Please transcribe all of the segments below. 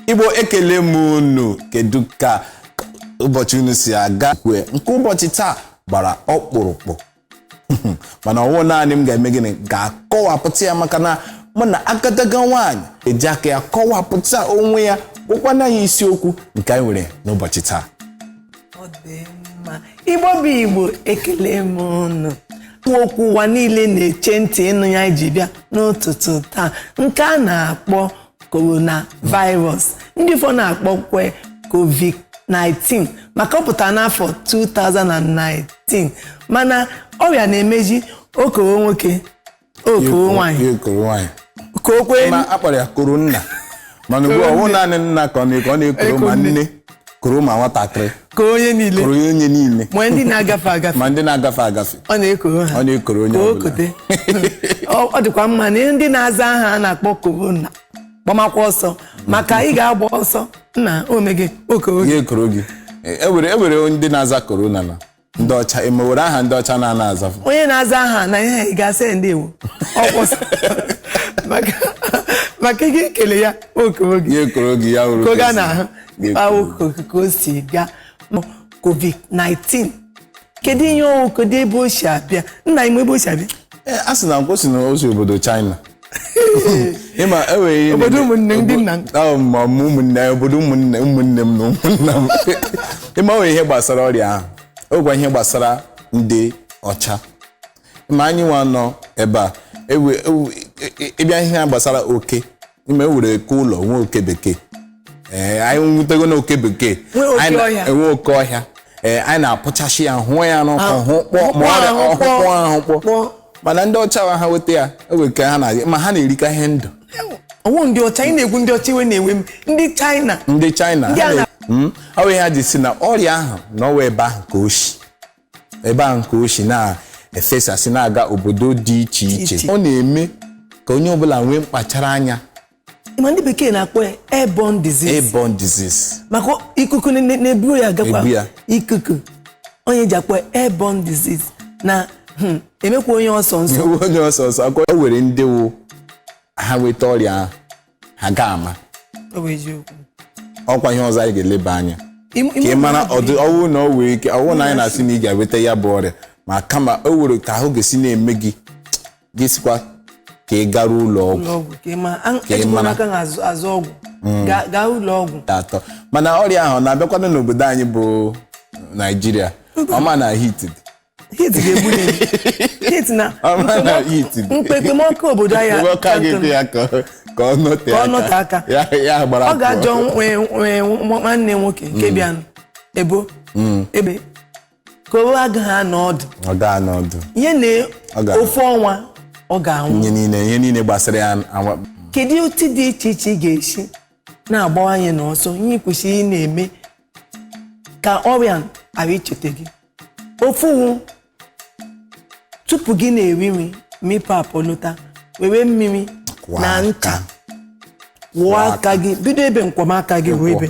igbo ekele m unu kedu ka ụbọchị unu si aga kwue nke ụbọchị taa gbara ọkpụrụkpụ mana ọwụ naanị m ga-eme gịnị ga-akọwapụta ya maka na mụ na agadaga nwaanyị eji aka ya kọwapụta onwe ya gwakwa anyị isiokwu nke anyị nwere n'ụbọchị taa Ọ dị mma. igbo bụ igbo ekele m unu okwu ụwa niile na-eche ntị ịnụ ya anyị ji bịa n'ụtụtụ taa nke a na-akpọ coronavirus ndị ụfọ na-akpọkwe covid-19 maka ọ pụtara n'afọ 2019 mana ọrịa na-emeji okoro nwoke okoro nwanyị Ekoro nwaanyị. ka o kwee Ma a kpọrọ ya koro nna mana ugbu a ọ wụ naanị nna ka ọ na-ekoro ma nne koro ma nwatakịrị koro onye niile koro ya onye niile ma ndị na-agafe agafe ma ndị na-agafe agafe ọ na-ekoro ha Ọ na-ekoro onye ka o ọbụla. kote ọ ọ dịkwa mma na ndị na-aza aha a na-akpọ korona gbamakwa ọsọ maka ị ga-agba ọsọ nna omege okoro ekoro gị e were e were ndị na-aza korona na ndị ọcha ịma e were aha ndị ọcha na-ana azafụ onye na-aza aha na ihe ị ga-asị ya ndewo ọ kwụsị maka maka gị kele ya okoro gị ya ekoro gị ya hụrụ ka oge a kwesịrị. na-ahụ Ya ekoro ahụ oge. ka- ka o si gaa Ma covid-19 kedu ihe ọwụ kedu ebe o si abịa nna m ebe o si abịa Ee, a sị na nkwụsị na o si obodo china ịma enwere ihe Obodo na-eme- ụmụnne ndị nna m. Ahụ m, ma mụ ụmụnne anyị, obodo ụmụnne ụmụnne m na ụmụnna m ịma nwere ihe gbasara ọrịa ahụ ọkwa ihe gbasara ndị ọcha ma anyị nwa nọ ebe a ewe- ewe- e- e- ịbịa ihe a gbasara oke ịma e were oke ụlọ nwee oke bekee ee anyị nwutego na oke bekee Nwee oke Anyị na- ọhịa. enwe oke ọhịa ee anyị na-apụchashi ya hụọ ya n'ọkụ Ah, hụ kpọọ ma ọkpọọ ọrịa ahụ ọhụkpọ kpọọ. ahụ kpọọ Kpọọ. mana ndị ọcha wa ha weta ya o nwere ka ha na-adị ma ha na-erika ihe ndụ ọwụ ndị ọcha ị na-ekwu ndị ọcha iwe na-ewe m ndị chaịna ndị china Ndị ha a na- na- Mm, ọ bụ ihe ha ji sị na ọrịa ahụ na ọwụ ebe ahụ ka o si ebe ahụ ka o si na-efesasị na-aga obodo dị iche iche Iche. ọ na-eme ka onye ọbụla nwee mkpachara anya ma ndị bekee na-akpọ ya airborne disease airborne disease maka ikuku na- na- na-eburu ya Ebu ya. agakwa ikuku ọ ya e ji akpọ ya airborne disease na hmm, emekwa onye ọsọ ọsọ Ewu onye ọsọ ọsọ ọkwa o nwere ndị wụ ha nweta ọrịa ahụ ha ga-ama Ọ bụ eziokwu. ọkwa ihe ọzọ anyị ga-eleba anya Im- ka ị im- mara ọdụ ọwụ na ọ nwere ike ọwụ na anyị na-asị na ị ga-enweta ya bụ ọrịa ma kama o nwere ka ahụ ga-esi na-eme gị gị sikwa ka ị gara ụlọ ọgwụ ụlọ ọgwụ ka ị ma an- Ka ị ejikwa mara. n'aka na azụ azụ ọgwụ Gaa- gaa ụlọ ọgwụ nke atọ mana ọrịa ahụ ọ na-abịakwanụ n'obodo anyị bụ Naịjirịa ọ ma na heat dị. heat ga-egbu ya egbu. heat na ọ ma na heat dị. mkpekpemọkụ obodo anyị Ebe ọ ka gị dị ya ka ọ- ka ọ nọte Ka ọ nọte aka. ya ya gbara ọ pụọ. gaa jụọ nwe- nwe- nwa- nwanne nwoke nke bịanụ ebo ebe ka ọ gaghị anọ ọdụ ọ gaa n'ọdụ ihe na Ọ ga-anwụ. ofu ọnwa ọ ga-anwụ ihe niile ihe niile gbasara ya anwa- kedu otu dị iche iche ị ga-esi na-agbawa anyị n'ọsọ ihe ị kwesịrị ị na-eme ka ọrịa ghara icheta gị ofu wụ tupu gị na-eri nri ma ị pụ apụ lọta were mmiri Kwọọ na aka. ncha kwọọ aka gị bido ebe nkwọmaka gị ruo ebe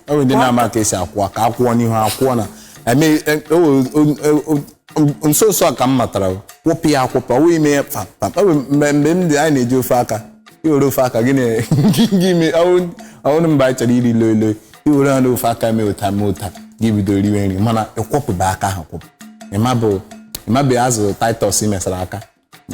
o nwere ndị na-ama ka e si akwọ aka akwọọ n'ihu akwọọ na eme e- o- o- o- o- nso nso a ka m matara kwọpụ ya akwọpụ ọ wee mee pam pam o nwere mgbe mgbe m dị anyị na-eji ofu aka i were ofu aka gị na- gị mee ọ wụrụ mgbe anyị chọrọ iri loi loi i were ha n'ofu aka mee otu a mee otu a gị bido riwe nri mana ị kwọpụba aka ahụ akwọpụ ị mabe ị mabe azụ Titus i mesara aka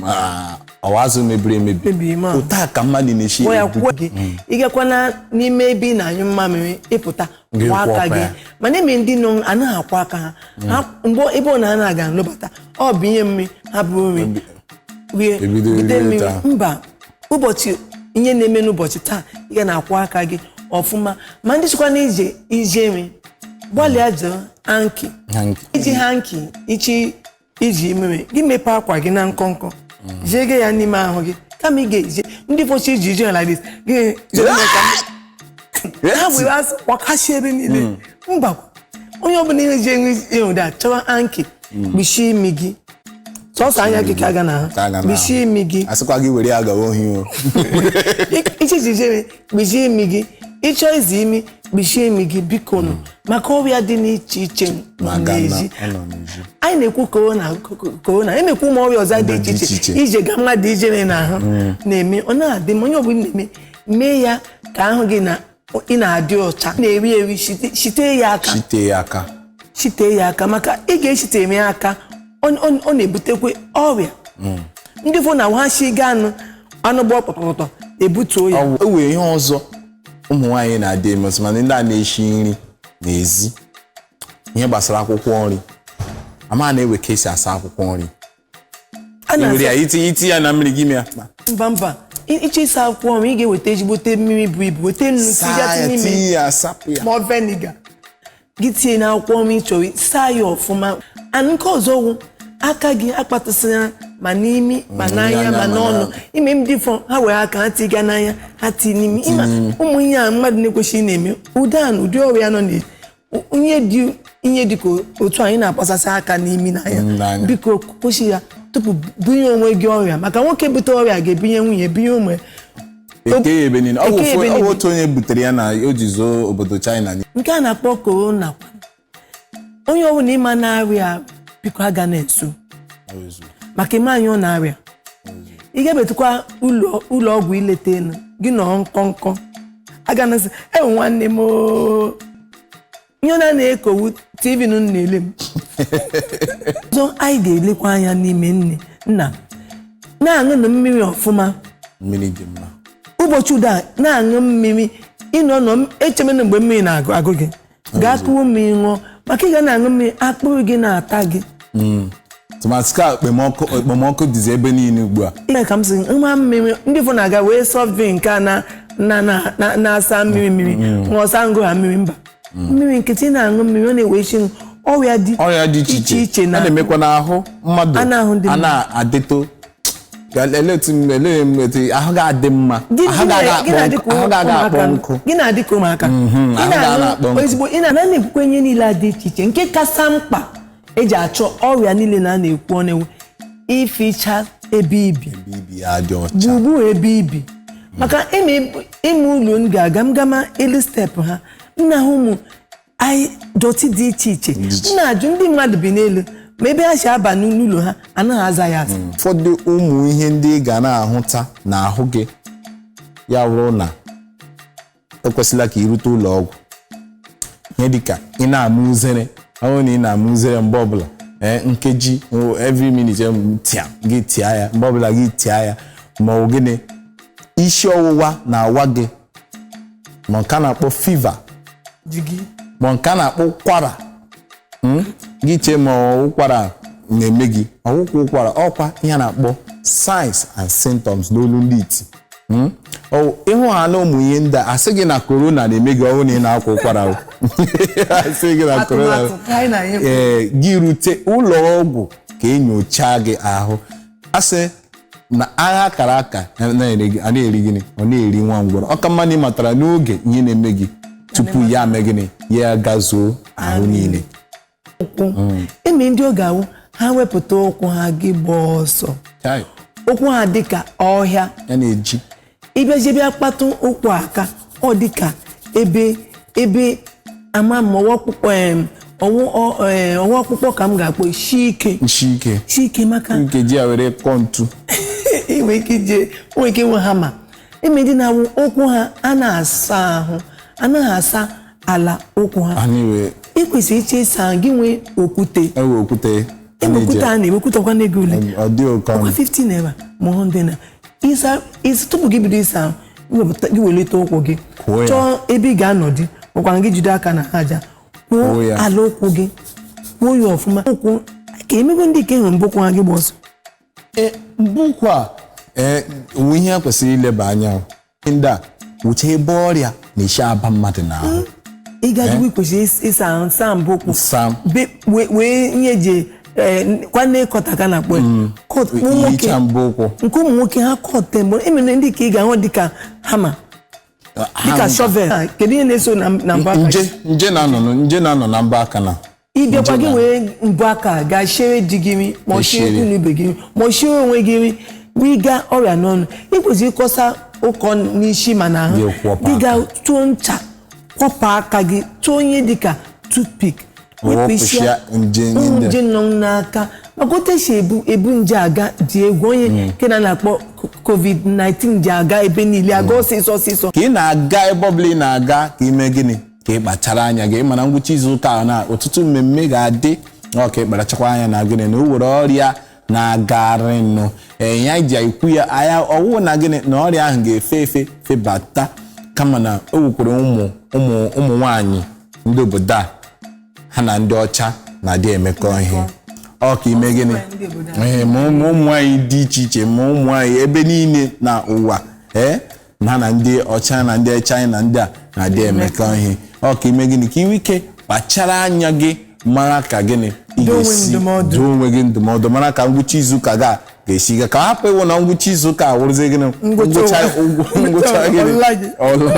ọ wụ azụ mebiri emebi otu a ka mmadụ na-eshi mm. ị gakwana n'ime ebe ị na-anyụ mmamịrị ị pụta kwọọ aka gị mana e nwe ndị na anaghị akwọ aka ha mm. mgbe ebe ọ na ana aga alọbata ọ bụ ihe mmiri ha bụ nri rie bute mmiri mba ọ bụghị ihe na-eme n'ụbọchị taa ị ga na-akwọ aka gị ọfụma ma ndị chọkwa na ije ijere gbalịa jie hanki i ji hanki ị chọ ije ijere gị mepee aka gị na nkọnkọ jege ya n'ime ahụ gị kama ị ga-eje ndị fụ chọ ije ije like this gị jere mee ka m- ha were asọ kwakasị ebe niile mba onye ọbụla ihe ji enwe ịhụ da chọwa hanki kpuchie imi gị sọsọ anya gị ka a ga na Ka a ga ha na-ahụ. kpuchie imi gị asịkwa gị were ya gawa ohi o ị chọ ije ijere kpuchie imi gị ị chọ izi imi kpuchie imi gị bikonụ maka ọrịa dị n'iche iche nọ Maka na n'ezi ọ nọ n'ezi. anyị na-ekwu korona korona e nwekwu ụmụ ọrịa ọzọ dị Dị iche iche iche iche. i jega mmadụ ijere n'ahụ na-eme ọ na-adị mma onye ọbụla na-eme mee ya ka ahụ gị na ị na-adị ọcha na-eri eri shite- shite ya aka shite ya aka shite ya aka maka ị ga-eshite eme ya aka ọ ọ- ọ na-ebutekwa ọrịa ndị fụ na ha si gaa anụ anụ gba pọtọpọtọ ebutuo ya Ọ- o nwee ihe ọzọ ụmụ nwaanyị na-adị eme ọsọ mana ndị a na-eshi nri n'ezi ihe gbasara akwụkwọ nri ama m na e nwe ka e si asa akwụkwọ nri a na-asa- i were ya iti iti ya na mmiri gị mee akpa mba mba I- ị chọ ịsa akwụkwọ nri ị ga-eweta ezigbote mmiri buru ibu weta nnu saa ya tinye ime tinye ya sapụ ya ma ọ vinegar gị tinye n'akwụkwọ ọnwa ị chọrọ saa ya ọfụma and nke ọzọ wụ aka gị akpatụsịra ma n'imi ma n'anya ma n'ọnụ ịma ndị ụfọ ha were aka ha tiga n'anya ha tii n'imi ịma ụmụ ihe a mmadụ na-ekwesịghị na-eme ụda a na ụdị ọrịa nọ na ihe dị ihe dị ka otu anyị na-akpasasị aka n'imi n'anya N'anya. biko kwụsị ya tupu bunye onwe gị ọrịa maka nwoke bute ọrịa ga-ebinye nwunye binye ụmụ ya eke ya ebe niile ọ bụ Eke ya ofu- ebe ọ bụ niile. otu onye butere ya na o ji zuo obodo china niile. nke a na-akpọ korona kwa. onye ọbụla ịma na-arịa biko aga na-ezo maka ịma onye ọ na-arịa ị ga-ebetukwa ụlọ ụlọ ọgwụ ileta elu gị nọọ nkọnkọ aga na-asị ewoo nwanne m oo. ihe na a na-ekwu ọ wụ tv nụ na-ele m ọzọ anyị ga-elekwa anya n'ime nne nna na-aṅụnụ mmiri ọfụma mmiri dị mma ụbọchị ụdị a na-aṅụ mmiri ịnọ nọ m- echemena mgbe mmiri na-agụ agụ gị gaa kuru mmiri ṅụọ maka ị ga na-aṅụ mmiri akpịrị gị na-ata gị tụmadị ka okpomọkụ okpomọkụ dịzi ebe niile ugbu a Ee, ka m si nwa mmiri ndị ụfọ na-aga wee soft drink a na- na- na- na- na-asa mmiri mmiri ṅụọ sị aṅụọ ha mmiri mba mmiri nkịtị na-aṅụ mmiri ọ na-egbochi ọrịa dị ọrịa dị iche iche iche ọ na na-emekwa n'ahụ mmadụ A na-ahụ ndị a mmadụ. na-adịto Ga- ele otu m- ele m otu ahụ ga-adị mma Gị- ahụ gị na- ga-aga gị na-adị akpọ ka nkụ ahụ ga-aga akpọ ụmụaka. nkụ Gị na-adị ka ụmụaka Ị ahụ ga-ana akpọ na-aṅụ nkụ. ezigbo ị na-ana na-ekwukwe ihe niile a dị iche iche nke kasa mkpa eji achụ ọrịa niile na a na-ekwu ọ na-awụ ificha ebe ibi ibi ya dị ọcha gburugburu ebe ibi maka ịma ib- ịma ụlọ m ga-aga m gama elu step ha m na-ahụ ụmụ ihe dọtị dị iche iche m na-ajụ ndị mmadụ bi n'elu ma ebe ha si aba n'ụlọ ha anaghị aza ya aza ụfọdụ ụmụ ihe ndị ị ga na-ahụta n'ahụ gị ya wụrụ na ekwesịla ka i rute ụlọ ọgwụ ihe dịka ị na-ama uzere ọ wụrụ na ị na-ama uzere mgbe ọbụla ee nkeji every minute tịa gị tịa ya mgbe ọbụla gị tịa ya ma ọ wụ gịnị isi ọwụwa na-awa gị ma nke a na-akpọ fever ma nke a na-akpọ ụkwara hmm? gị chee ma ụkwara na-eme gị awụkwa ụkwara ọkwa ihe a na-akpọ signs and symptoms n'olu ndị iti Hmm? Oh, ịhụ ha na ụmụ ihe ndị a asịghị na korona na-eme gị ọ wụrụ na ị na-akwa ụkwara asịghị na korona ee eh, gị rute ụlọ ọgwụ ka enyochaa gị ahụ asị na agha akara aka a na-eri gịnị ọ na-eri nwa ngwọrọ ọka mma na ị matara n'oge ihe na-eme gị tupu ya mee gịnị ya gazuo ahụ niile ụkwụ mm. enwe ndị ọ ga-awụ ha wepụta ụkwụ ha gị gbaa ọsọ ụkwụ ha dịka ọhịa na-eji ịbịazie bịa kpatụ ụkwụ aka ọ dịka ebe ebe ama m ọ wụ akpụkpọ ọ wụ akpụkpọ ka m ga-akpọ shi ike shi ike shi ike maka nke iji ya were kpọọ ntu inwe ike ije nwee ike nwe hama enwe ndị na-awụ ụkwụ ha a na-asa ahụ anaghị asa ala ụkwụ ha a na-ewe ị kwesịrị iche ịsa ahụ gị nwee okwute ewe okwute a ebe na-eji okwute a na-ewe okwute ọkwa n'ego ole ọ dị oke ọkwa ọnụ 50 naira ma 100 naira ịsa ịsa- tupu gị bido ịsa ahụ gị wepụta- gị welite ụkwụ gị Kwụọ ya. chọọ ebe ị ga-anọdụ makwara gị jide aka na aja Kwụọ kwụọ ya. ala ụkwụ gị kwụọ ya ọfụma ụkwụ ka enwego ndị ike hụrụ mbọ ụkwụ ha gị gba ọsọ Ee, mbọ ụkwụ a ee, ọ wụ ihe a kwesịrị ileba anya o. ndị a wụcha ebe ọrịa na-esi aba mmadụ n'ahụ ị gajiwe kwesịrị ịs- ịsa ahụ saa mbọ ụkwụ Saa. Be- wee- wee ihe eji kwa nail cutter ka a na-akpọ ya. Cut ụmụ nwoke ihicha mbọ ụkwụ nke ụmụ nwoke ha cut mgbe enwere ndị ka ị ga-ahụ dịka hama dịka Ha- shovel kedu ihe na-eso na na mbọ aka nje nje na-anọ na- nje na-anọ na mbọ aka na ịbịakwa gị wee mbọ aka gaa shiere di gị nri ma ọ shiere shiere ụmụ ibe gị nri ma ọ shiere onwe gị nri wega ọrịa n'ọnụ ị kwesịrị ịkọsa ọkọ n'isi ma na ahụ Gị kwọpụ aka. gị gaa tụọ ncha kwọpụ aka gị tụọ ihe dịka toothpick Wepụsịa nje ụmụ niile. nje nọ n'aka maka otu esi ebu ebu nje aga dị egwu onye nke a na-akpọ covid-19 ji aga ebe niile aga ọsịsọ ọsịsọ ka ị na-aga ebe ọbụla ị na-aga ka ime gịnị ka ị kpachara anya gị mana ngwụcha izu ụka a na ọtụtụ mmemme ga-adị ọ ka ị kparachakwa anya na gịnị na o were ọrịa na-agarịnụ ee ya ji ekwu ya anya ọ wụ na gịnị na ọrịa ahụ ga-efe efe febata kama na o wekwere ụmụ ụmụ ụmụ nwanyị ndị obodo a ha na ndị ọcha na-adị emekọ ihe ọ ka ime gịnị ee ma ụmụ ụmụ nwanyị dị iche iche ma ụmụ nwanyị ebe niile na ụwa ee ha na ndị ọcha na ndị china ndị a na-adị emekọ ihe ọ ka ime gịnị ka iwe ike kpachara anya gị mara ka gịnị ị Dụọ onwe m ga-esi ndụmọdụ. dụọ onwe gị ndụmọdụ mara ka ngwụcha izuụka ga ga-esi ga ka hapụ ịwụ na ngwụcha izuụka awụrụzie gịnị Ngwụcha ụgwọ- ụgwọ- ngwụcha gịnị ọla gị. ọla